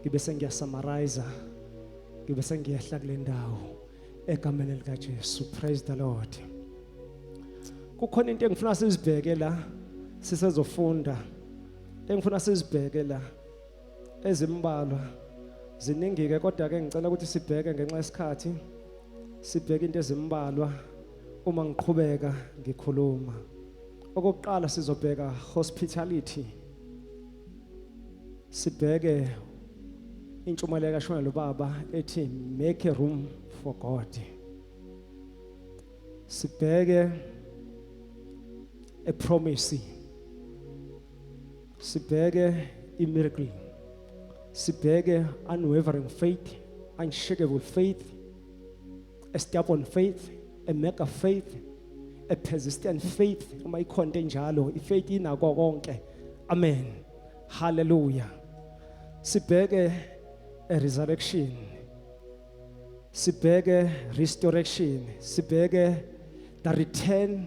ngibe sengiyasamariza ngibe sengiyehla kule ndawo egameni likaJesu praise the lord kukhona into engifuna sizibheke la sisezofunda engifuna sizibheke la ezimbalwa ziningike kodwa ke ngicela ukuthi sibheke ngenxa yesikhathi sibheke into ezimbalwa uma ngiqhubeka ngikhuluma okokuqala sizobheka hospitality sibheke intshumayelo kashonelo baba ethi make a room for God sibheke a promise sibheke i miracle sibheke unwavering faith unshakable faith a stubborn faith a mega faith a persistent faith uma ikhonto enjalo ifaith inako konke amen hallelujah sibheke a resurrection sibheke restoration sibheke the return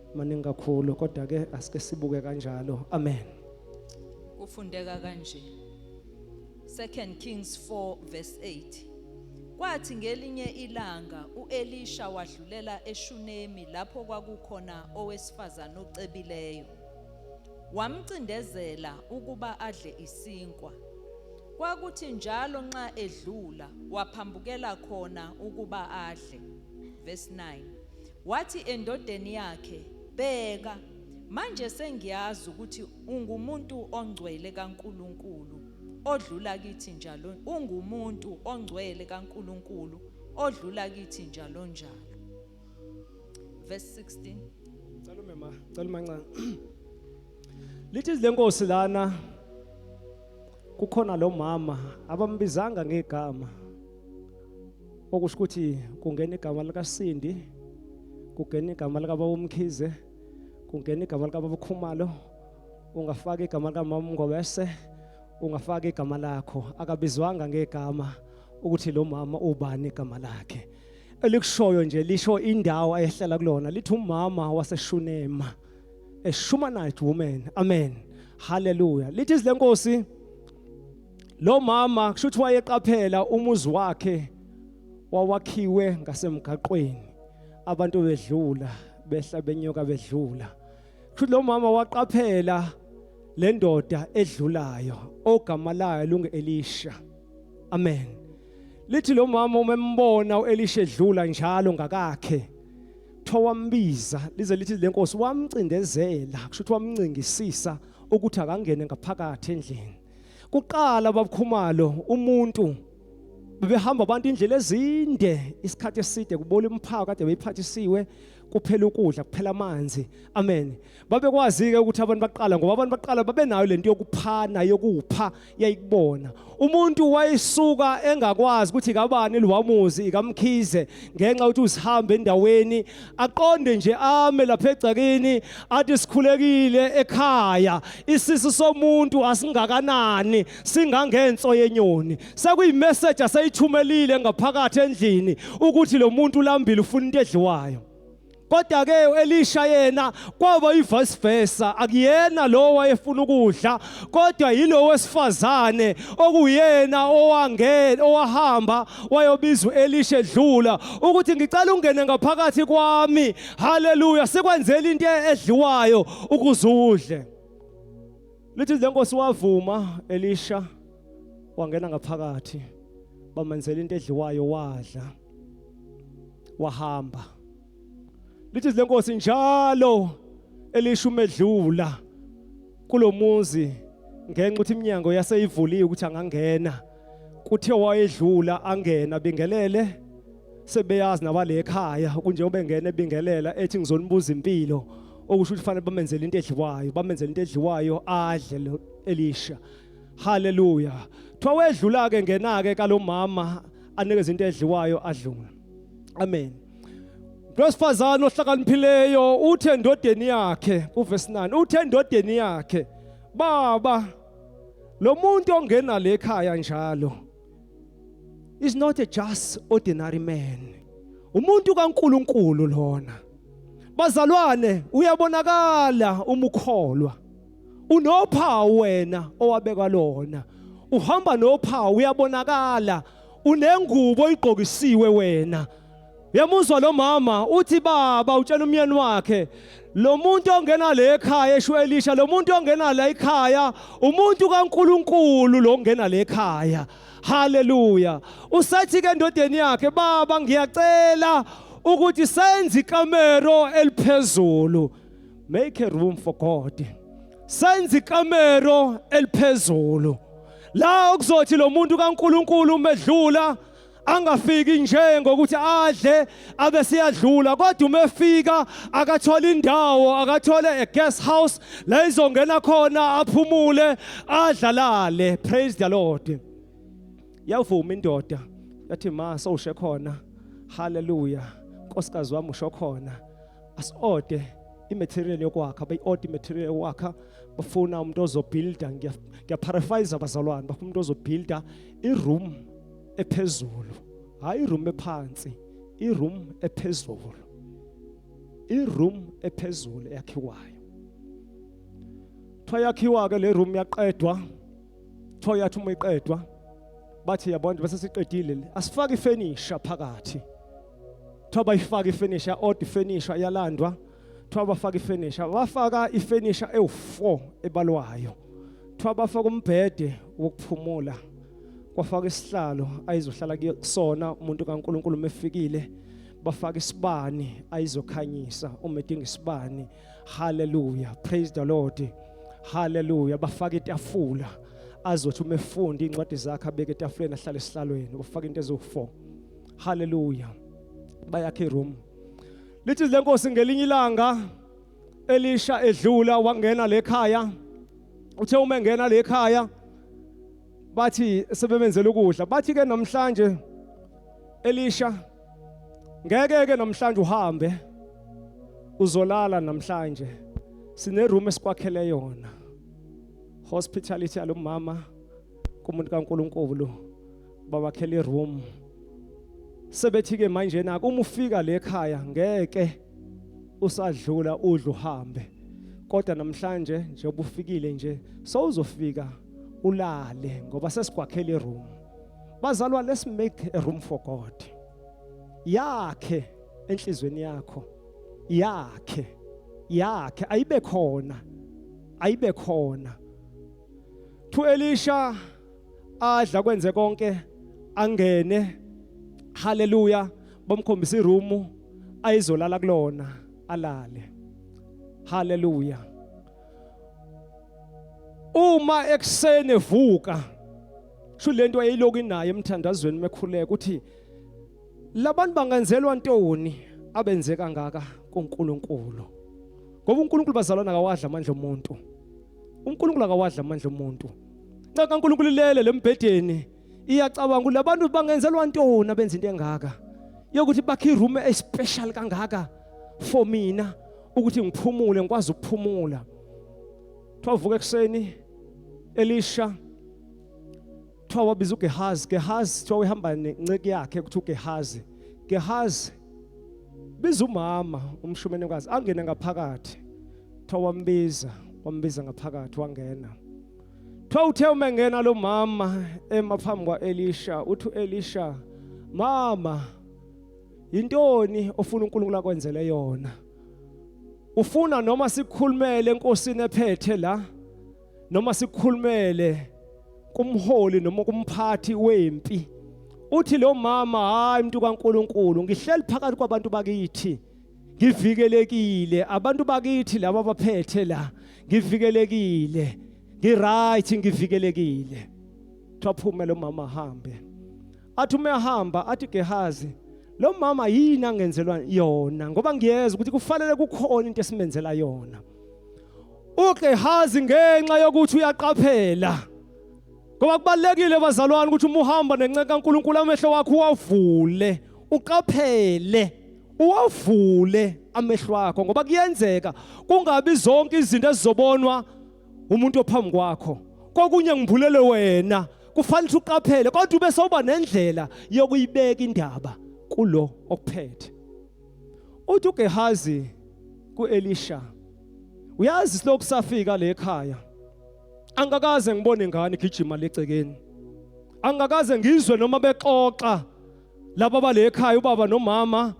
maningi kakhulu kodwa ke asike sibuke kanjalo amen kufundeka kanje second kings 4 verse 8 Kwathi ngelinye ilanga uElisha wadlulela eShunemi lapho kwakukhona owesifazane ocebileyo. Wamcindezela ukuba adle isinkwa. Kwakuthi njalo nxa edlula waphambukela khona ukuba adle. Verse 9. Wathi endodeni yakhe, Bheka, manje sengiyazi ukuthi ungumuntu ongcwele kaNkulunkulu odlula kithi njalo, ungumuntu ongcwele kaNkulunkulu odlula kithi njalo njalo. Verse 16. Cela umema, cela umancane. Lithi izilenkosi lana kukhona lo mama abambizanga ngegama okusho ukuthi kungena igama likaSindi kungena igama likababa uMkhize kungena igama likababa uKhumalo ungafaka igama likamama uMngobese ungafaka igama lakho akabizwanga ngegama ukuthi lo mama ubani igama lakhe elikushoyo nje lisho indawo ayehlala kulona lithi umama waseshunema a Shumanite woman amen haleluya lithi izilenkosi lo mama kusho ukuthi wayeqaphela umuzi wakhe wawakhiwe ngasemgaqweni abantu bedlula behla benyoka bedlula kusho ukuthi lo mama waqaphela le ndoda edlulayo ogama layo lungu-elisha amen lithi lo mama uma embona u-elisha edlula njalo ngakakhe kuthiwa wambiza lize lithi le nkosi wamcindezela kusho ukuthi wamncingisisa ukuthi akangene ngaphakathi endlini kuqala babukhumalo umuntu bebehamba abantu indlela ezinde isikhathi eside kubola imphako kade beyiphathisiwe kuphela ukudla kuphela amanzi amen babekwazi ke ukuthi abantu baqala ngoba abantu baqala babenayo lento yokuphana yokupha yayikubona umuntu wayesuka engakwazi ukuthi kabani liwamuzi ikamkhize ngenxa ukuthi usihambe endaweni aqonde nje ame lapha egcakini athi sikhulekile ekhaya isisu somuntu asingakanani singangenso yenyoni sekuyimessage asayithumelile ngaphakathi endlini ukuthi lo muntu ulambile ufuna into edliwayo kodwa ke uElisha yena kwaba ivice versa akuyena lo wayefuna ukudla kodwa yilo wesifazane okuyena owangena owahamba wayobiza uElisha edlula ukuthi ngicela ungene ngaphakathi kwami haleluya sikwenzela into edliwayo ukuze udle lithi lenkosi wavuma Elisha wangena ngaphakathi bamenzela into edliwayo wadla wahamba lithi lenkosi njalo elisho umedlula kulomuzi ngenxa ukuthi iminyango yaseyivuliwe ukuthi angangena kuthiwa wayedlula angena bingelele sebeyazi nabale ekhaya kunjengoba engena ebingelela ethi ngizonibuza impilo okusho ukuthi fanele bamenzele into edliwayo bamenzele into edliwayo adle elisha haleluya kuthiwa wedlula ke ngenake kalomama anikeza into edliwayo adlula amen lwesifazane ohlakaniphileyo uthe endodeni yakhe kuvesi 9 uthe endodeni yakhe baba lo muntu ongena le khaya njalo is not a just ordinary man umuntu kaNkuluNkulu lona bazalwane uyabonakala umukholwa unophawu wena owabekwa lona uhamba nophawu uyabonakala unengubo oyigqokisiwe wena uyamuzwa lo mama uthi baba utshela umyeni wakhe lo muntu ongena le ekhaya esho elisha lo muntu ongena la ekhaya umuntu kaNkuluNkulu lo ongena le ekhaya haleluya usathi ke endodeni yakhe baba ngiyacela ukuthi senze ikamero eliphezulu make a room for God senze ikamero eliphezulu la okuzothi lo muntu kaNkuluNkulu umedlula angafiki nje ngokuthi adle abe siyadlula kodwa uma efika akathola indawo akathole a guest house la izongena khona aphumule adlalale praise the lord yavuma indoda yathi ma sowushe khona haleluya nkosikazi wami usho khona asiode imaterial yokwakha bayi-order imaterial yokwakha bafuna umuntu ozobuilda ngiyaparaphise abazalwane bafuna umuntu ozobuilda iroom ephezulu hhayi iroom ephansi iroom ephezulu iroom ephezulu eyakhiwayo kuthiwa yakhiwa-ke le room yaqedwa kuthiwa yathi uma iqedwa bathi yabona bese siqedile asifake ifenisha phakathi kuthiwa bayifaka ifenisha odd ifenisha yalandwa kuthiwa bafaka ifenisha bafaka ifenisha ewu4 ebalwayo kuthiwa bafaka umbhede wokuphumula kwafaka isihlalo ayizohlala kusona umuntu kaNkuluNkulu mefikile bafaka isibani ayizokhanyisa uma edinga isibani haleluya praise the lord haleluya bafaka itafula azothi uma efunda incwadi zakhe abeke etafuleni ahlale esihlalweni bafaka into ezo4 haleluya bayakhe iroom lithi lenkosi ngelinye ilanga elisha edlula wangena lekhaya uthe uma engena lekhaya bathi sebemenzela ukudla bathi ke namhlanje elisha ngeke ke namhlanje uhambe uzolala namhlanje sine room esikwakhele yona hospitality yalomama kumuntu kaNkuluNkulu babakhele iroom sebethi ke manje naku uma ufika le khaya ngeke usadlula udlu uhambe kodwa namhlanje njengoba ufikile nje sowuzofika ulale ngoba sesigwakhela iroom bazalwa let's make a room for God yakhe enhlizweni yakho yakhe yakhe ayibe khona ayibe khona to Elisha adla kwenze konke angene haleluya bomkhombisa iroom ayizolala kulona alale haleluya uma ekuseni evuka sho lento ayiloku inayo emthandazweni mekhuleka ukuthi labantu bangenzelwa ntoni abenze kangaka kuNkulunkulu ngoba uNkulunkulu bazalwana kawadla amandla omuntu uNkulunkulu akawadla amandla omuntu Nxa kaNkulunkulu ilele lembhedeni iyacabanga ukuthi labantu bangenzelwa ntoni abenza into engaka yokuthi bakhe iroom especial kangaka for mina ukuthi ngiphumule ngikwazi ukuphumula. Twavuka ekseni Elisha kuthiwa wabiza uGehazi Gehazi kuthiwa uhamba nenceki yakhe kuthiwa uGehazi Gehazi biza umama umshumenekazi angene ngaphakathi kuthiwa wambiza wambiza ngaphakathi wangena kuthiwa uthe uma engena lo mama ema phambi kwa-elisha uthi u-elisha mama yintoni ofuna unkulunkulu akwenzele yona ufuna noma sikhulumele enkosini ephethe la noma sikhulumele kumholi noma kumphathi wempi uthi lo mama hayi umuntu kaNkuluNkulu ngihleli phakathi kwabantu bakithi ngivikelekile abantu bakithi laba abaphethe la ngivikelekile ngiright ngivikelekile kuthiwa phume lo mama ahambe athi uma ehamba athi Gehazi lo mama yini angenzelwa yona ngoba ngiyeza ukuthi kufanele kukhona into esimenzela yona uGehazi ngenxa yokuthi uyaqaphela ngoba kubalekile bazalwane ukuthi uma uhamba nencenga kaNkuluNkulu amehlo wakho uwavule uqaphele uwavule amehlo wakho ngoba kuyenzeka kungabi zonke izinto ezizobonwa umuntu ophambi kwakho kokunye ngibulele wena kufanele uqaphele kodwa ube soba nendlela yokuyibeka indaba kulo okuphethe uthi uGehazi kuElisha uyazi silokhu safika le ekhaya angakaze ngibone ngani gijima legcekeni angakaze ngizwe noma bexoxa laba bale ekhaya ubaba nomama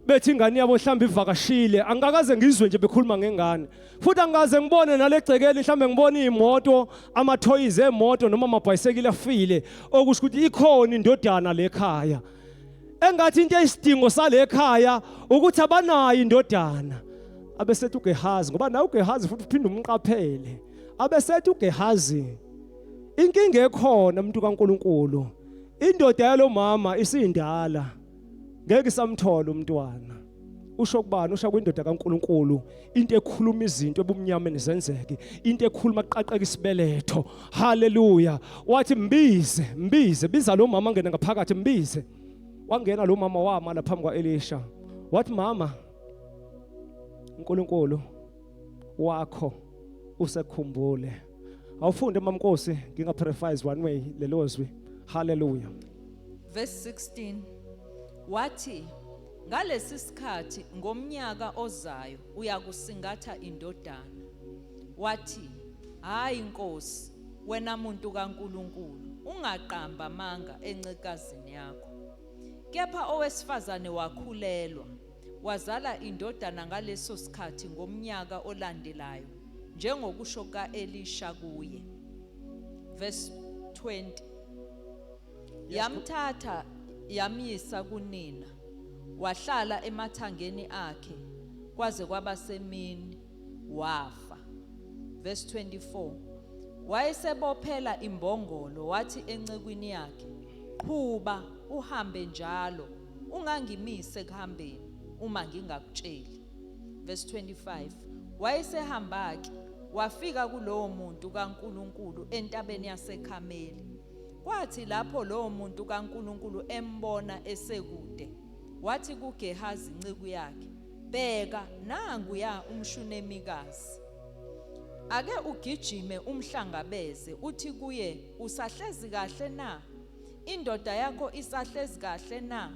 bethi ingane yabo mhlawumbe ivakashile angikaze ngizwe nje bekhuluma ngengane futhi angikaze ngibone nalegcekeli mhlawumbe ngibona iy'moto amathoyizi emoto noma amabhayisekile afile okusho ukuthi ikhona indodana lekhaya engathi into eyisidingo salekhaya ukuthi abanayo indodana abesethi uGehazi ngoba nawe uGehazi futhi uphinde umqaphele abesethi uGehazi inkinga ekhona umuntu kaNkuluNkulu Indoda yalomama isindala ngeke isamthola umntwana. usho kubani usho kwindoda kaNkuluNkulu into ekhuluma izinto ebumnyameni zenzeke into ekhuluma kuqaqeka isibeletho haleluya wathi mbize mbize biza lo mama ngena ngaphakathi mbize wangena lo mama wama la phambi kwaElisha wathi mama uNkulunkulu wakho usekhumbule awufunde mamnkosi nginga paraphrase one way lelo zwi haleluya verse 16 wathi ngalesi sikhathi ngomnyaka ozayo uyakusingatha indodana wathi hayi inkosi wena muntu kaNkuluNkulu ungaqamba amanga encekazini yakho kepha owesifazane wakhulelwa wazala indodana ngaleso sikhathi ngomnyaka olandelayo, njengokusho ka-Elisha kuye. Verse 20. Yamthatha yamyisa kunina, wahlala emathangeni akhe kwaze kwaba semini, wafa. Verse 24. Wayesebophela imbongolo, wathi encekwini yakhe, Qhuba uhambe njalo ungangimise ekuhambeni uma ngingakutsheli. Verse 25. Wayesehamba-ke wafika kulowo muntu kaNkulunkulu entabeni yaseKhameli. Kwathi lapho lowo muntu kaNkulunkulu embona esekude, wathi kuGehazi inceku yakhe, "Bheka, nangu ya umshunemikazi. Ake ugijime umhlangabeze, uthi kuye, usahlezi kahle na?" Indoda yakho isahlezi kahle na?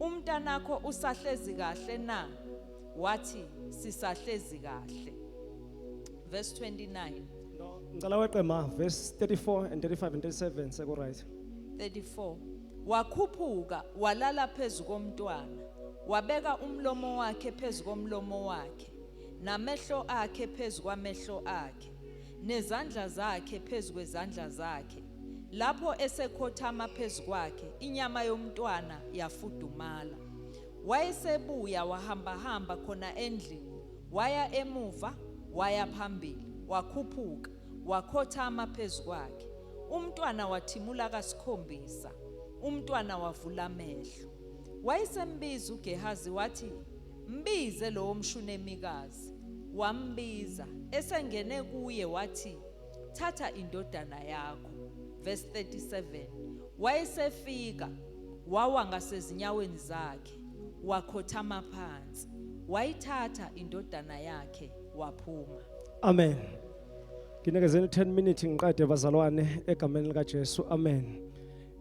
Umntanakho usahlezi kahle na? Wathi, Sisahlezi kahle. Verse 29. No, ngicela weqe ma verse 34 and 35 and 37 seku right. 34 wakhuphuka walala phezu komntwana wabeka umlomo wakhe phezu komlomo wakhe namehlo akhe phezu kwamehlo akhe zakhe, nezandla zakhe phezu kwezandla zakhe. Lapho esekhothama phezu kwakhe, inyama yomntwana yafudumala. Wayesebuya wahambahamba khona endlini, waya emuva, waya phambili, wakhuphuka, wakhothama phezu kwakhe. Umntwana wathimula kasikhombisa, umntwana wavula amehlo. Wayesembiza uGehazi wathi, Mbize lowo mshunemikazi. Wambiza, esengene kuye wathi, Thatha indodana yakho. Verse 37. Wayesefika, wawa ngasezinyaweni zakhe, wakhothama phansi. Wayithatha indodana yakhe waphuma. Amen. Nginikezeni 10 minutes ngiqede bazalwane egameni lika Jesu. Amen.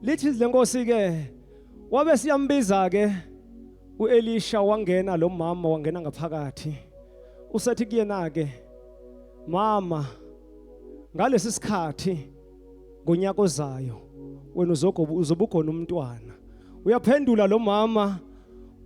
Lithi lenkosi ke wabe siyambiza ke uElisha wangena lo mama wangena ngaphakathi usethi kuyena ke mama ngalesi sikhathi ngonyaka ozayo wena uzogoba uzobugona umntwana uyaphendula lo mama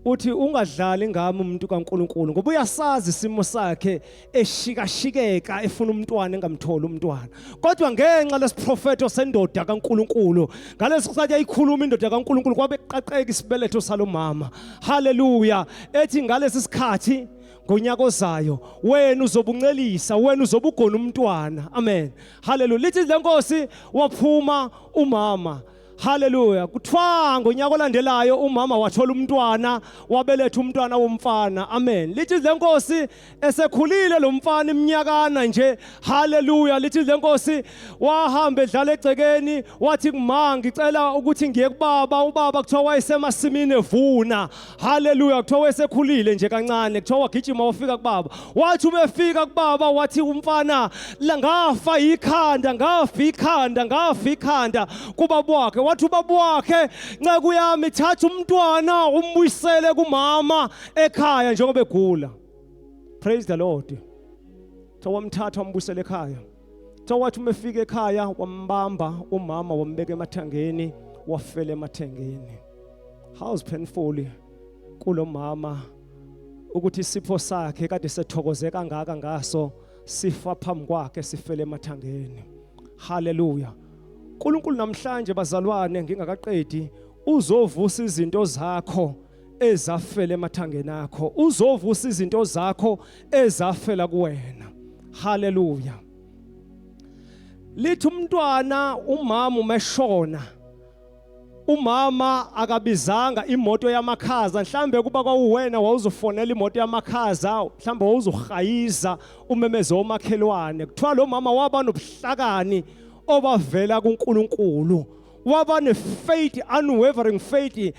uthi ungadlali ngami umuntu kaNkuluNkulu ngoba uyasazi isimo sakhe eshikashikeka efuna umntwana engamtholi umntwana kodwa ngenxa lesiprofeto sendoda kaNkuluNkulu ngalesi sikhathi ayikhuluma indoda kaNkuluNkulu kwabe qaqeka isibeletho salomama haleluya ethi ngalesi sikhathi ngonyaka ozayo wena uzobuncelisa wena uzobugona umntwana amen haleluya lithi lenkosi waphuma umama Haleluya. Kuthiwa ngonyaka olandelayo umama wathola umntwana, wabeletha umntwana womfana. Amen. Lithi lenkosi esekhulile lo mfana iminyakana nje. Haleluya. Lithi lenkosi wahamba edlala egcekeni, wathi kuma ngicela ukuthi ngiye kubaba, ubaba kuthiwa wayesemasimini evuna. Haleluya kuthiwa wesekhulile nje kancane kuthiwa wagijima wafika kubaba wathi ubefika kubaba wathi umfana la ngafa ikhanda ngafa ikhanda ngafa ikhanda kubaba wakhe wathi ubaba wakhe nceku yami thatha umntwana umbuyisele kumama ekhaya njengoba egula praise the lord kuthiwa wamthatha wambuyisele ekhaya so wathi uma efika ekhaya wambamba umama wambeka emathangeni wafela emathangeni how's painful kulomama ukuthi isipho sakhe kade sethokoze kangaka ngaso sifa phambi kwakhe sifele emathangeni haleluya uNkulunkulu namhlanje bazalwane ngingakaqedi uzovusa izinto zakho ezafela emathangeni akho uzovusa izinto zakho ezafela kuwena haleluya lithi umntwana umama umeshona umama akabizanga imoto yamakhaza mhlambe kuba kwawuwena wawuzofonela imoto yamakhaza mhlambe wawuzohayiza umemeze omakhelwane kuthiwa lo mama waba nobuhlakani obavela kuNkulunkulu waba ne-faith unwavering faith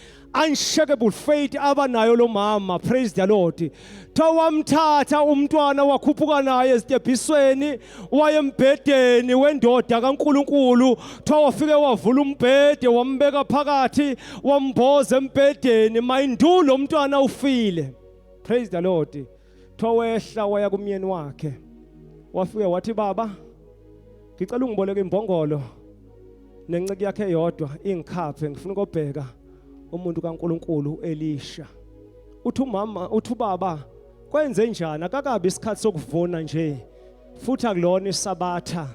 unshakable faith abanayo lo mama praise the lord kuthiwa wamthatha umntwana wakhuphuka naye ezitebhisweni wayembhedeni wendoda kaNkuluNkulu kuthiwa wafike wavula umbhede wambeka phakathi wamboza embhedeni mayindulo umntwana ufile praise the lord kuthiwa wehla waya kumyeni wakhe wafika wathi baba ngicela ungiboleke imbongolo nenceke yakhe yodwa ingikhaphe ngifuna ukobheka umuntu kaNkuluNkulu uElisha uthi umama uthi ubaba kwenze njani akakabi isikhathi sokuvuna nje futhi akulona isabatha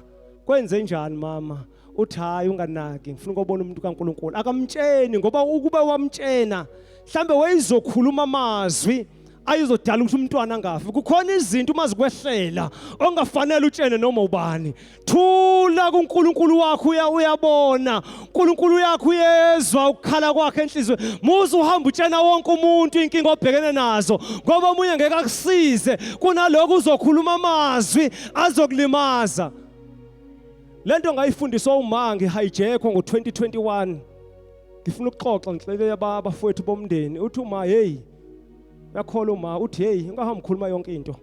kwenze njani mama uthi hayi unganaki ngifuna ukubona umuntu kaNkuluNkulu akamtsheni ngoba ukuba wamtshena mhlambe wayezokhuluma amazwi ayizodala ukuthi umntwana angafi kukhona izinto uma zikwehlela ongafanele utshene noma ubani thula kuNkulunkulu wakho uya uyabona uNkulunkulu uyakho uyezwa ukukhala kwakhe enhlizweni muze uhamba utshena wonke umuntu inkinga obhekene nazo ngoba omunye ngeke akusize kunaloko uzokhuluma amazwi azokulimaza lento ngayifundiswa uma ngihijackwa ngo2021 ngifuna ukuxoxa ngihleke abafowethu bomndeni uthi uma hey yakhola uma uthi hey ungahambi khuluma yonke into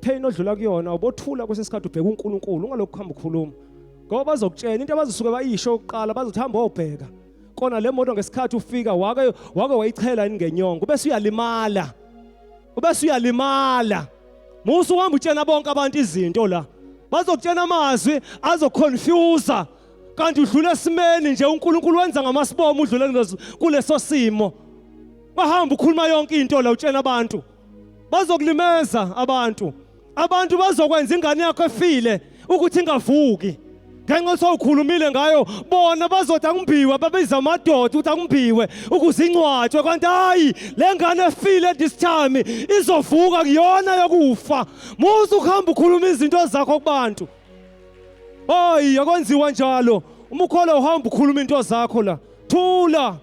pain odlula kuyona ubothula kwesesikhathi ubheka uNkulunkulu ungalokhu hamba ukhuluma ngoba bazokutshela into abazosuke bayisho ukuqala bazothi hamba obheka kona le moto ngesikhathi ufika wake wake wayichela ingenyongo bese uyalimala ubese uyalimala musu uhamba utshena bonke abantu izinto la bazokutshena amazwi azoconfuse kanti udlula esimeni nje uNkulunkulu wenza ngamasibomo udlule kuleso simo bahamba ukhuluma yonke into la utshena abantu bazokulimeza abantu abantu bazokwenza ingane yakho efile ukuthi ingavuki ngenxa ukuthi awukhulumile ngayo bona bazothi akumbiwe babiza amadoda ukuthi akumbiwe ukuze ingcwatshwe kanti hayi le ngane efile this time izovuka kuyona yokufa muze ukuhamba ukhuluma izinto zakho kubantu hayi akwenziwa njalo uma ukholwa uhamba ukhuluma into zakho la thula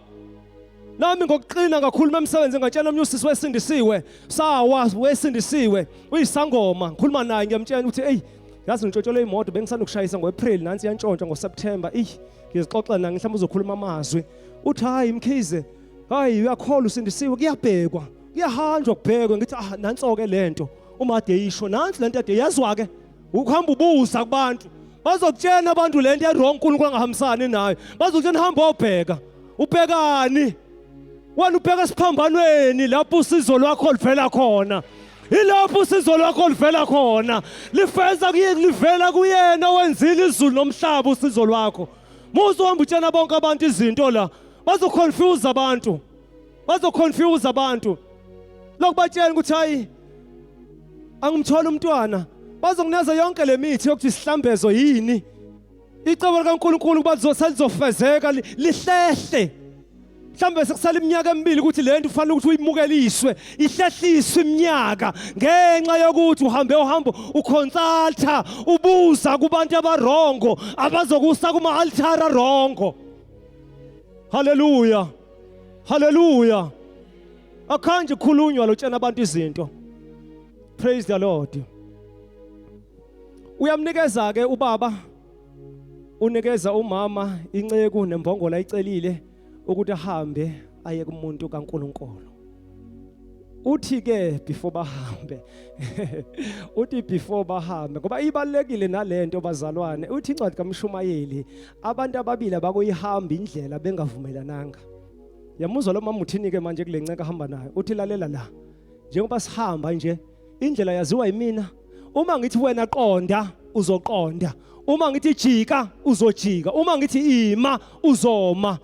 nami ngokuqina ngakhuluma emsebenzi ngatshela omnye usisi wesindisiwe sawa wesindisiwe uyisangoma ngikhuluma naye ngiyamtshela ukuthi eyi yazi ngitshotshole imoto bengisanokushayisa ngo-april nansi yantshontsha ngoseptemba eyi ngizixoxela nange mhlawumbe uzokhuluma amazwi uthi hhayi mkhize hhayi uyakholwa usindisiwe kuyabhekwa kuyahanjwa kubhekwe ngithi ah nanso-ke le nto uma ade yisho nansi le nto ade yazwa-ke ukuhamba ubuza kubantu bazokutshena abantu le nto erong unkulunkulu angahambisani nayo bazokutshena hamba obheka ubhekani wena ubheka esiphambanweni lapho usizo lwakho livela khona ilapho usizo lwakho livela khona lifeza kuyini livela kuyena wenzile izulu nomhlaba usizo lwakho muze uhamba utshena bonke abantu izinto la bazoconfuse abantu bazoconfuse abantu lokubatshela ukuthi hayi angimtholi umntwana bazokuneza yonke le mithi yokuthi sihlambezo yini icebo likaNkuluNkulu kuba lizofezeka lihlehle mhlawumbe sekusala iminyaka emibili ukuthi le nto ufanele ukuthi uyimukeliswe ihlehliswe iminyaka ngenxa yokuthi uhambe uhambo ukhonsaltha ubuza kubantu abarongo abazokusa kuma-altara rongo haleluya Hallelujah. Akhanje khulunywa lotshena abantu izinto. Praise the Lord. Uyamnikeza ke ubaba unikeza umama inceku nembongola icelile ukuthi ahambe aye kumuntu kaNkuluNkulu. uthi ke before bahambe uthi before bahambe ngoba ibalekile nalento bazalwane uthi incwadi kamshumayeli abantu ababili abakuyihamba indlela bengavumelananga yamuzwa lo mama uthini-ke manje kule nceka ahamba nayo uthi lalela la njengoba sihamba nje indlela yaziwa yimina uma ngithi wena qonda uzoqonda uma ngithi jika uzojika uma ngithi ima uzoma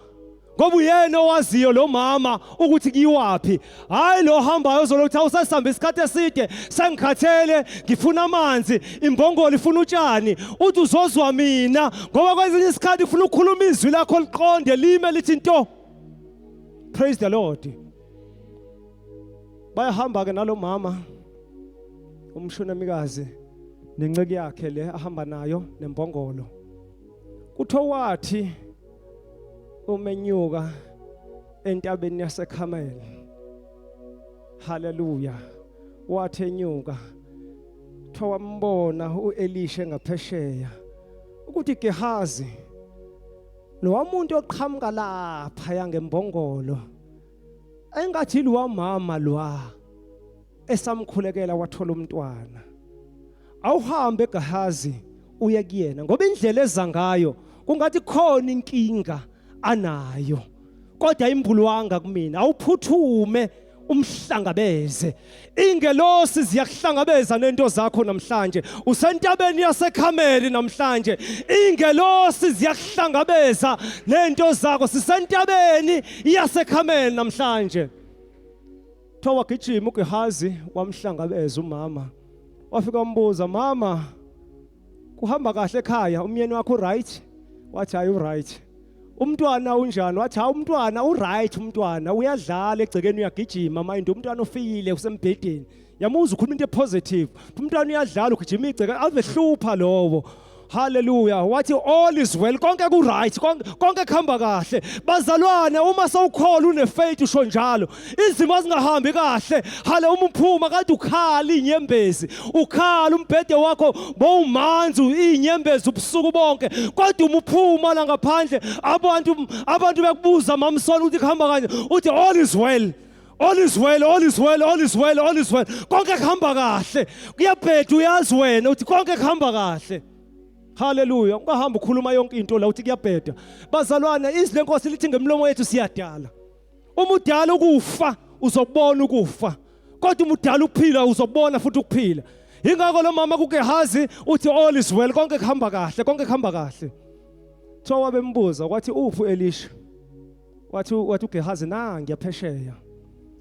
ngoba uyena owaziyo lo mama ukuthi kuyiwaphi hhayi lo hambayo ozolo ukuthi awusasihamba isikhathi eside sengikhathele ngifuna amanzi imbongolo ifuna utshani uthi uzozwa mina ngoba kwezinye isikhathi ufuna ukukhuluma izwi lakho liqonde lime lithi nto praise the lord bayahamba-ke nalo mama umshonamikazi nenceku yakhe le ahamba nayo nembongolo kuthiwa wathi umenyuka entabeni yaseKhameli haleluya wathi enyuka kuthiwa wambona uElisha ngaphesheya ukuthi Gehazi nowamuntu oqhamuka lapha yangembongolo engathi liwamama lwa esamkhulekela wathola umntwana awuhambe eGahazi uye kuyena ngoba indlela eza ngayo kungathi khona inkinga anayo kodwa imbulwanga kumina awuphuthume umhlangabeze ingelosi ziyakuhlangabeza nento zakho namhlanje usentabeni yasekhameli namhlanje ingelosi ziyakuhlangabeza nento zakho sisentabeni yasekhameli namhlanje Kuthiwa wagijima uGehazi wamhlangabeza umama. Wafika wambuza, "Mama, kuhamba kahle ekhaya? Umyeni wakho uright?" Wathi, "Hayi uright." Umntwana unjani? Wathi, "Hayi umntwana uright umntwana, uyadlala egcekeni uyagijima, mind umntwana ofikile usembhedeni." Yamuza ukhuluma into epositive. Umntwana uyadlala ugijima igceke, avehlupha lowo. Hallelujah. Wathi all is well. Konke ku right. Konke kuhamba kahle. Bazalwane uma sawukhola une faith usho njalo. Izimo azingahambi kahle. Hale uma uphuma kanti ukhala inyembezi. Ukhala umbhede wakho bowumanzi inyembezi ubusuku bonke. Kodwa uma uphuma la ngaphandle abantu abantu bekubuza mamsona ukuthi kuhamba kanje. Uthi all is well. all is well all is well all is well all is well konke kuhamba kahle kuyabheda uyazi wena uthi konke kuhamba kahle haleluya ungahamba ukhuluma yonke into la uthi kuyabheda bazalwane izwi lenkosi lithi ngemlomo yethu siyadala uma udala ukufa uzokubona ukufa kodwa uma udala ukuphila uzokubona futhi ukuphila yingakho lo mama kugehazi uthi all is well konke kuhamba kahle konke kuhamba kahle kuthiwa wabembuza kwathi uphi elisha wathi wathi uGehazi na ngiyaphesheya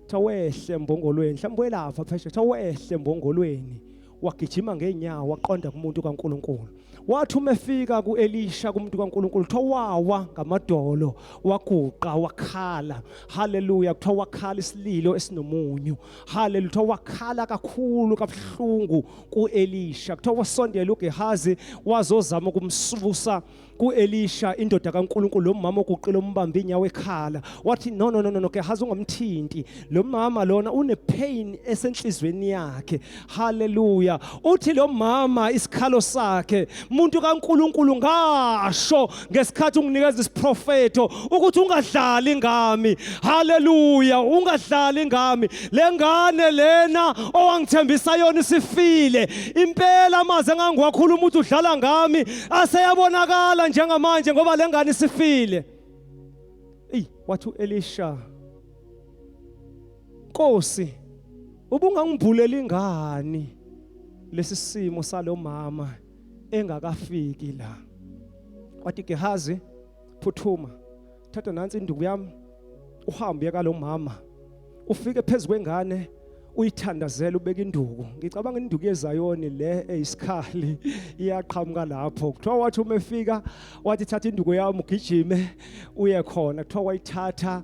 kuthiwa wehle mbongolweni mhlawumbe welapha phesheya kuthiwa wehle mbongolweni wagijima ngeenyawo waqonda kumuntu kaNkuluNkulu wathi uma efika kuElisha kumuntu kaNkuluNkulu kuthiwa wawa ngamadolo waguqa wakhala haleluya kuthiwa wakhala isililo esinomunyu haleluya kuthiwa wakhala kakhulu kabuhlungu kuElisha kuthiwa wasondela uGehazi wazozama ukumsusa kuElisha indoda kaNkuluNkulu lo mama oguqile umbambe inyawo ekhala wathi no no no no ke hazi ungamthinti lo mama lona une pain esenhlizweni yakhe haleluya uthi lo mama isikhalo sakhe umuntu kaNkuluNkulu ngasho ngesikhathi unginikeza isiprofeto ukuthi ungadlali ngami haleluya ungadlali ngami lengane lena owangithembisa yona isifile impela maze ngangiwakhuluma ukuthi udlala ngami aseyabonakala njengamanje ngoba lengane isifile eyi wathi uElisha Nkosi ubungangibhuleli ingani lesi simo salomama engakafiki la wathi Gehazi phuthuma thatha nansi induku yami uhambe ka lo mama ufike phezu kwengane uyithandazela ubeka induku ngicabanga induku yezayoni le eyisikhali iyaqhamuka lapho kuthiwa wathi uma efika wathi thatha induku yami ugijime uye khona kuthiwa wayithatha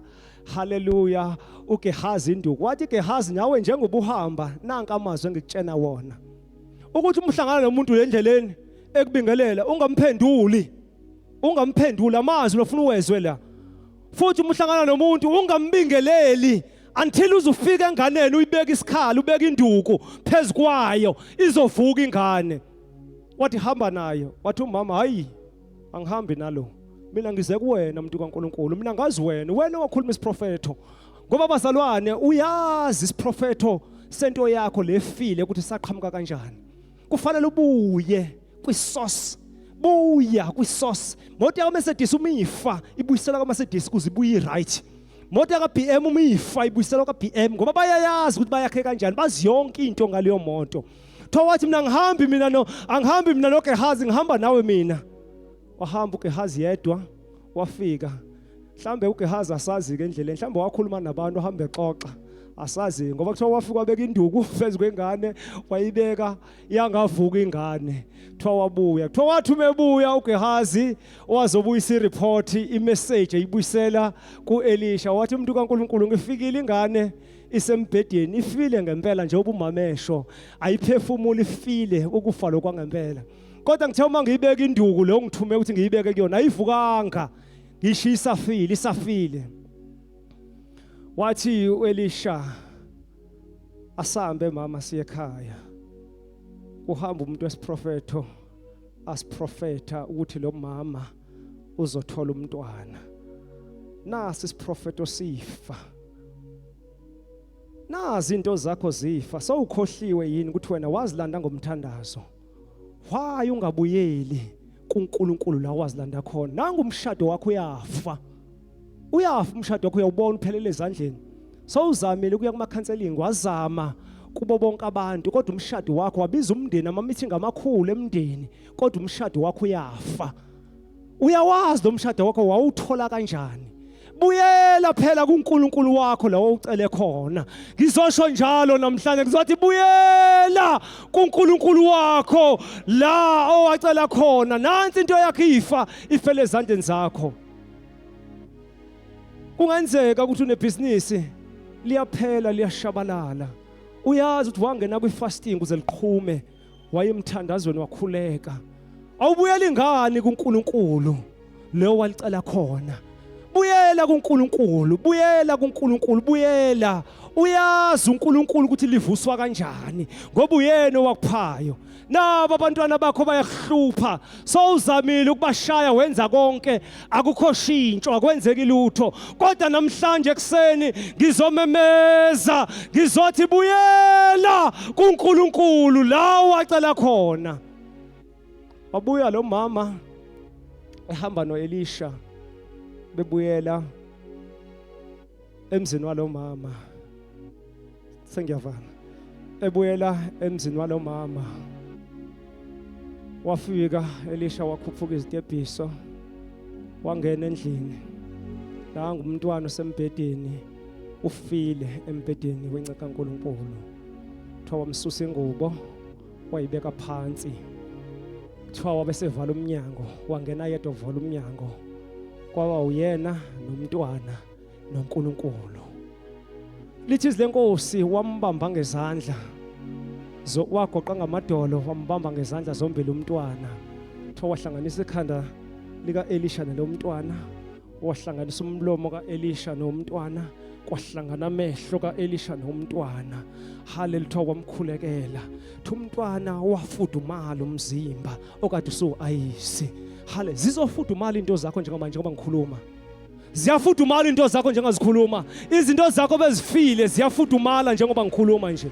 haleluya ugehazi induku wathi gehazi nawe njengoba uhamba nanka amazwi engikutshena wona ukuthi umhlangana nomuntu endleleni ekubingelela ungamphenduli ungamphenduli amazwi lofuna uwezwe la futhi uma uhlangana nomuntu ungambingeleli until uzufika enganeni uyibeka isikhala ubeka induku phezu kwayo izovuka ingane wathi hamba nayo wathi umama hayi angihambi nalo mina ngize kuwena mntu kaNkuluNkulu mina ngazi wena wena wakhuluma isiprofetho ngoba bazalwane uyazi isiprofetho sento yakho lefile ukuthi saqhamuka kanjani kufanele ubuye kwisource buya kwisource moto yakaMercedes uma ifa ibuyiselwa kaMercedes kuze ibuye right moto yakaBM uma ifa ibuyiselwa kaBM ngoba bayayazi ukuthi bayakhe kanjani bazi yonke into ngaleyo moto kuthiwa wathi mina ngihambi mina no angihambi mina nogehazi ngihamba nawe mina wahamba ugehazi yedwa wafika mhlambe uGehazi asazi ke endleleni mhlambe wakhuluma nabantu ahambe exoxa asazi ngoba kuthiwa wafika wabeka induku phezu kwengane wayibeka yangavuka ingane kuthiwa wabuya kuthiwa wathi umebuya uGehazi owazobuyisa ireport imessage eyibuyisela kuElisha wathi umuntu kaNkuluNkulu ngifikile ingane isembhedeni ifile ngempela njengoba umamesho ayiphefumula ifile ukufa lokwangempela kodwa ngithe uma ngiyibeka induku le ongithume ukuthi ngiyibeke kuyona ayivukanga ngishiya isafile isafile wathi uElisha asambe mama siye ekhaya kuhamba umuntu wesiprofetho asiprofetha ukuthi lo mama uzothola umntwana nasi isiprofetho sifa nazi into zakho zifa sowukhohliwe yini ukuthi wena wazilanda ngomthandazo why ungabuyeli kuNkulunkulu la wazilanda khona nangu umshado wakho uyafa uyafa umshado wakho uyawubona uphelele ezandleni sowuzamile ukuya kuma counseling wazama kubo bonke abantu kodwa umshado wakho wabiza umndeni ama meeting amakhulu emndeni kodwa umshado wakho uyafa uyawazi lo mshado wakho wawuthola kanjani buyela phela kuNkulunkulu wakho lawo ucele khona ngizosho njalo namhlanje ngizothi buyela kuNkulunkulu wakho la owacela khona nansi into yakhe ifa ifele ezandleni zakho kungenzeka ukuthi unebhizinisi liyaphela liyashabalala uyazi ukuthi wangena kwi-fasting uze liqhume wayemthandazweni wakhuleka awubuyeli ngani kuNkulunkulu leyo walicela khona buyela kuNkulunkulu buyela kuNkulunkulu buyela uyazi uNkulunkulu ukuthi livuswa kanjani ngoba uyena owakuphayo nabo abantwana bakho bayakuhlupha sowuzamile ukubashaya wenza konke akukho shintsho akwenzeki lutho kodwa namhlanje ekseni ngizomemeza ngizothi buyela kuNkulunkulu la wacela khona wabuya lo mama ehamba noElisha bebuyela emzini walomama sengiyavala ebuyela emzini walomama wafika elisha wakhuphuka izitebhiso wangena endlini la ngumntwana osembhedeni ufile embhedeni wenca kaNkuluNkulu kuthiwa wamsusa ingubo wayibeka phansi kuthiwa wabesevala umnyango wangena yedwa uvala umnyango kwaba uyena nomntwana noNkulunkulu lithi izwi lenkosi wambamba ngezandla wagoqa ngamadolo wambamba ngezandla zombili umntwana kuthiwa wahlanganisa ikhanda lika-elisha nalo mntwana wahlanganisa umlomo ka-elisha nomntwana kwahlangana amehlo ka-elisha nomntwana hale lithiwa kwamkhulekela thi umntwana wafudumala umzimba okade usuwu-ayisi hale zizofudumala into zakho njengoba njengoba ngikhuluma ziyafudumala into zakho njengazikhuluma izinto zakho bezifile ziyafudumala njengoba ngikhuluma nje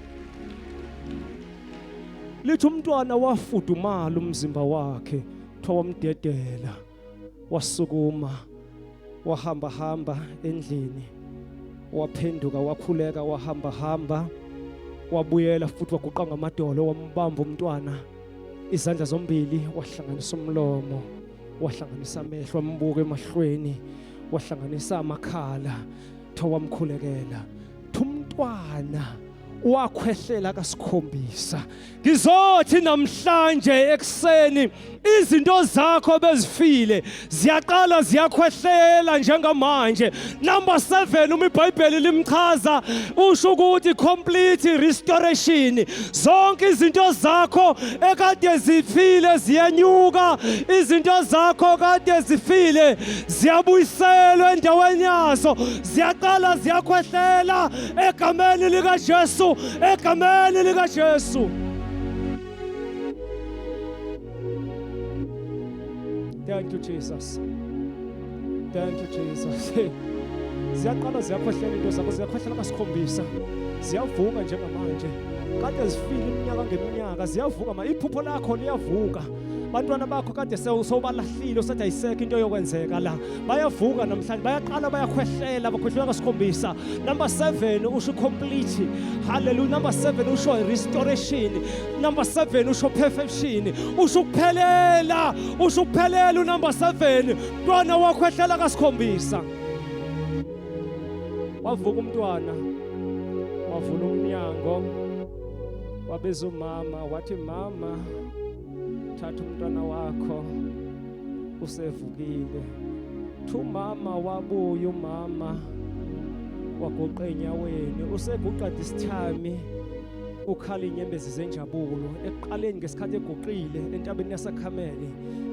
lithi umntwana wafudumala umzimba wakhe kuthiwa wamdedela wasukuma wahamba hamba endlini waphenduka wakhuleka wahamba hamba wabuyela futhi waguqa ngamadolo wambamba umntwana izandla zombili wahlanganisa umlomo wahlanganisa amehlo ambuka emahlweni wahlanganisa amakhala thawamkhulekela thumntwana wakhwehlela kasikhombisa ngizothi namhlanje ekuseni izinto zakho bezifile ziyaqala ziyakhwehlela njengamanje Number 7 uma iBhayibheli limchaza usho ukuthi complete restoration. Zonke izinto zakho ekade zifile ziyenyuka, izinto zakho kade zifile ziyabuyiselwa endaweni yazo, ziyaqala ziyakhwehlela egameni lika Jesu, egameni lika Jesu. Thank you Jesus. Thank you Jesus. Hey. Ziyaqala ziyakhohlela into zakho ziyakhohlela kasikhombisa. Ziyavuka njengamanje. Kade zifile iminyaka ngeminyaka ziyavuka ma iphupho lakho liyavuka. bantwana bakho kade sewubalahlile usathi ayisekho into yokwenzeka la bayavuka namhlanje bayaqala bayakhwehlela bakhwehlela kasikhombisa number 7 usho complete hallelujah number 7 usho restoration number 7 usho perfection usho ukuphelela usho ukuphelela unumber 7 mntwana wakho ehlela kasikhombisa wavuka umntwana wavula umnyango wabeza umama wathi mama thatha umntwana wakho usevukile thu mama wabuya umama waguqa enyaweni useguqa disithami ukhala inyembezi zenjabulo ekuqaleni ngesikhathi eguqile entabeni yasakhamele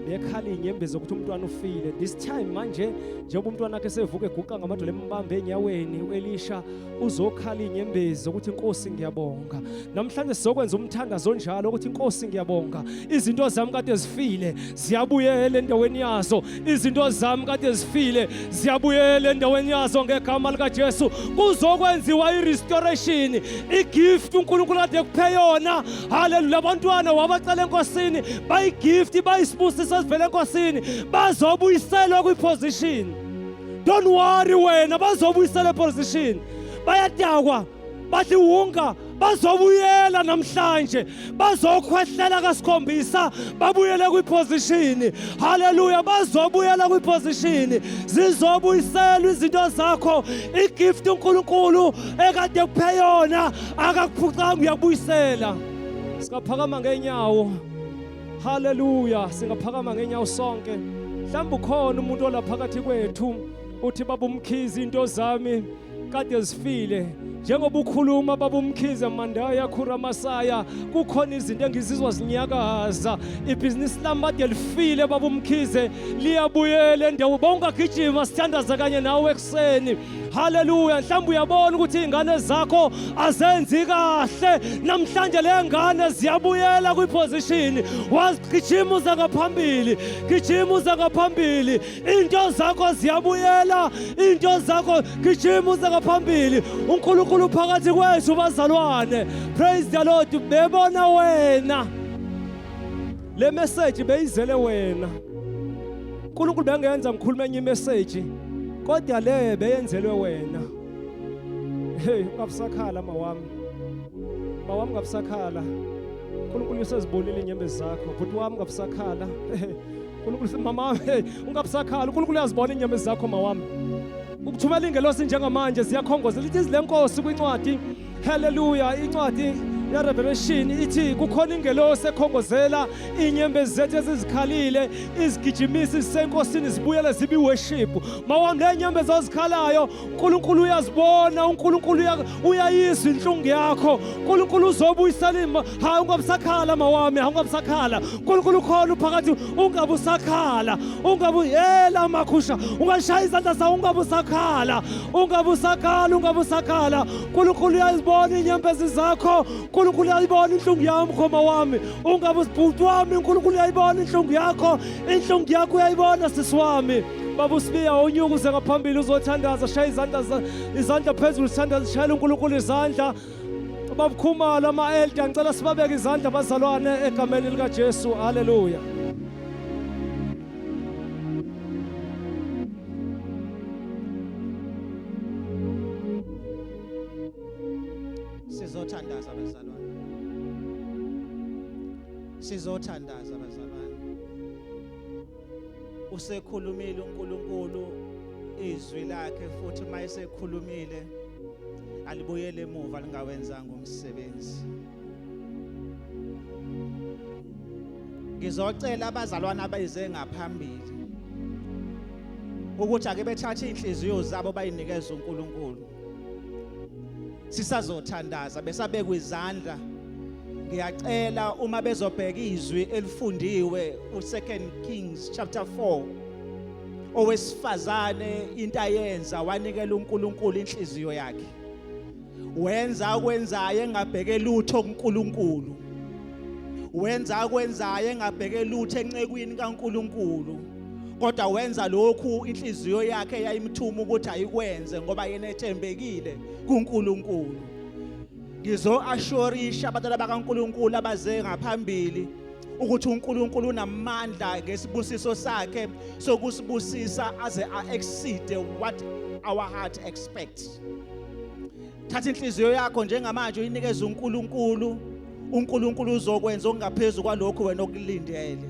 bekhala inyembezi zokuthi umntwana ufile this time manje njengoba umntwana wakhe sevuka eguqa ngamadolo embambe enyaweni uelisha uzokhala inyembezi zokuthi inkosi ngiyabonga namhlanje sizokwenza umthandazo onjalo ukuthi inkosi ngiyabonga izinto zami kade zifile ziyabuyela endaweni yazo izinto zami kade zifile ziyabuyela endaweni yazo ngegama likaJesu kuzokwenziwa irestoration igift uNkulunkulu kade kuphe yona haleluya abantwana wabacela enkosini bayigift bayisibusiso esivele enkosini bazobuyiselwa kwiposition don't worry wena bazobuyiselwa eposition bayadakwa baziwunga bazobuyela namhlanje bazokhwehlela kasikhombisa babuyele kwiposition haleluya bazobuyela kwiposition zizobuyiselwa izinto zakho igift uNkulunkulu ekade kuphe yona akakuphucanga uyakubuyisela singaphakama ngenyawo haleluya singaphakama ngenyawo sonke mhlawumbe ukhona umuntu olaphakathi kwethu uthi babumkhizi into zami kade zifile njengoba ukhuluma baba umkhize mandaya khura masaya kukhona izinto engizizwa zinyakaza ibhizinisi lami kade lifile baba umkhize liyabuyela endawo bawungagijima sithandaza kanye nawe ekuseni haleluya mhlawumbe uyabona ukuthi iy'ngane zakho azenzi kahle namhlanje le ngane ziyabuyela kwiphozishini wazigijima uze ngaphambili gijima uze ngaphambili Into zakho ziyabuyela, into zakho gijima uze ngaphambili. UNkulunkulu phakathi kwethu bazalwane. Praise the Lord. Bebona wena. Le message beyizele wena. uNkulunkulu bengenza ngikhulume enye message kodwa le beyenzelwe wena. Hey, ungabusakhala mawami. Mawami ngabusakhala. uNkulunkulu usezibonile inyembezi zakho. Bhuti wami ngabusakhala. uNkulunkulu mama hey ungabusakhala uNkulunkulu uyazibona inyama zakho mawami ukuthumela ingelosi njengamanje siyakhongoza lithi izile nkosi kwincwadi haleluya incwadi yerevelation ithi kukhona ingelosi ekhongozela inyembezi zethu ezizikhalile izigijimisi zisenkosini zibuyele zibiworship mawami le nyembezi ozikhalayo uNkulunkulu uyazibona uNkulunkulu uyayizwa inhlungu yakho uNkulunkulu uzobuyisela ima hayi ungabusakhala mawami hayi ungabusakhala uNkulunkulu ukhona uphakathi ungabusakhala ungabu yela makhusha ungashaya izandla sawo ungabusakhala ungabusakhala ungabusakhala uNkulunkulu uyazibona inyembezi zakho uNkulunkulu uyayibona inhlungu yami mkhoma wami ungabusibhuti wami uNkulunkulu uyayibona inhlungu yakho inhlungu yakho uyayibona sisi wami Baba uSibiya unyuka uze ngaphambili uzothandaza shaya izandla izandla phezulu sithandaza shayela uNkulunkulu izandla babukhumalo ama-elda ngicela sibabeke izandla abazalwane egameni likajesu haleluya sizothandaza bazalwane sizothandaza bazalwane usekhulumile uNkulunkulu izwi lakhe futhi uma esekhulumile alibuyele emuva lingawenzanga umsebenzi ngizocela abazalwana abayize ngaphambili ukuthi ake bethathe inhliziyo zabo bayinikeze uNkulunkulu sisazothandaza besabekwa izandla ngiyacela uma bezobheka izwi elifundiwe uSecond Kings chapter 4 owesifazane into ayenza wanikela uNkulunkulu inhliziyo yakhe wenza akwenzayo engabheke lutho kuNkulunkulu wenza akwenzayo engabheke lutho encekwini kaNkulunkulu kodwa wenza lokhu inhliziyo yakhe yayimthuma ukuthi ayikwenze ngoba yena ethembekile kuNkulunkulu ngizoashorisha abantwana bakaNkulunkulu abaze ngaphambili ukuthi uNkulunkulu unamandla ngesibusiso sakhe sokusibusisa aze a-exceed what our heart expects thatha inhliziyo yakho njengamanje uyinikeze uNkulunkulu uNkulunkulu uzokwenza okungaphezulu kwalokho wena okulindele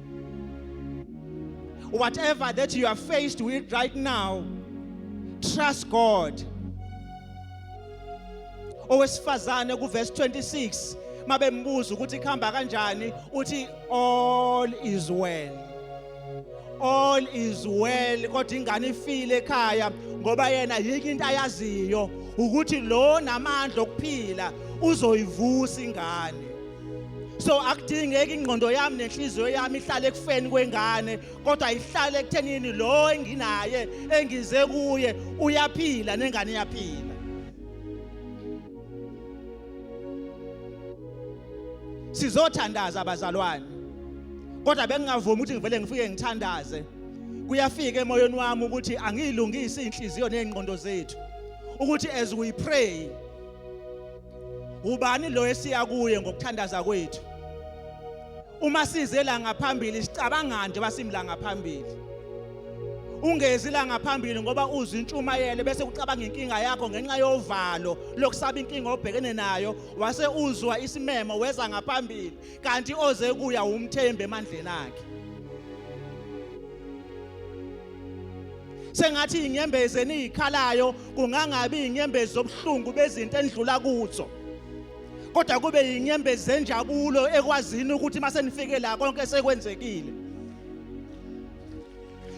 Whatever that you are faced with right now, trust God. Owesifazane kuverse 26 mabembuza ukuthi kuhamba kanjani uthi all is well. All is well kodwa ingane ifile ekhaya ngoba yena yike into ayaziyo ukuthi lo namandla okuphila uzoyivusa ingane. so akudingeki ingqondo yami nenhliziyo yami ihlale ekufeni kwengane kodwa ihlale ekuthenini lo enginaye engize kuye uyaphila nengane iyaphila sizothandaza abazalwane kodwa bengingavumi ukuthi ngivele ngifike ngithandaze kuyafika emoyeni wami ukuthi angiyilungisi inhliziyo nezingqondo zethu ukuthi as we pray ubani lo esiya kuye ngokuthandaza kwethu uma size la ngaphambili sicabanga nje basimla ngaphambili ungezi la ngaphambili ngoba uzwa intshumayelo bese ucabanga inkinga yakho ngenxa yovalo lokusaba inkinga obhekene nayo wase uzwa isimemo weza ngaphambili kanti oze kuya umthembe emandleni akhe sengathi inyembezi eniyikhalayo kungangabi inyembezi zobuhlungu bezinto endlula kuzo kodwa kube yinyembezi zenjabulo ekwazini ukuthi uma senifike la konke sekwenzekile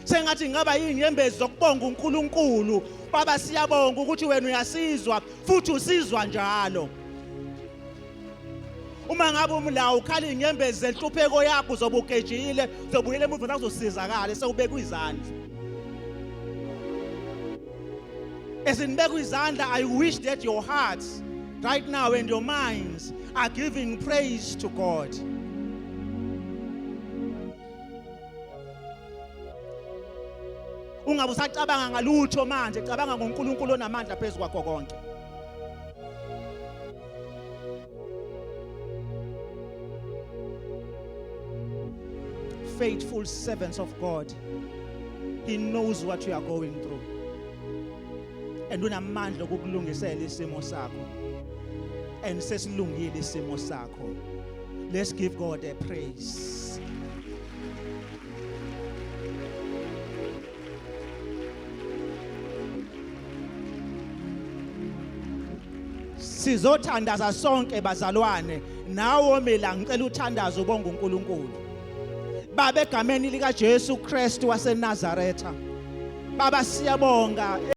sengathi ngaba yinyembezi zokubonga uNkulunkulu baba siyabonga ukuthi wena uyasizwa futhi usizwa njalo uma ngabe umlawo ukhala inyembezi zenhlupheko yakho uzobe ugejile uzobuyela emuva nakuzosizakala sewubekwa izandla as in bekwa izandla i wish that your hearts right now and your minds are giving praise to god ungabe usacabanga ngalutho manje cabanga ngoNkulunkulu onamandla phezu kwakho konke faithful servants of God. He knows what you are going through. And unamandla okukulungisela isimo sakho. And sesilungile isimo sakho. Let's give God a praise. sizothandaza sonke bazalwane nawo mina ngicela uthandaze ubonga uNkulunkulu baba egameni lika Jesu Kristu waseNazaretha baba siyabonga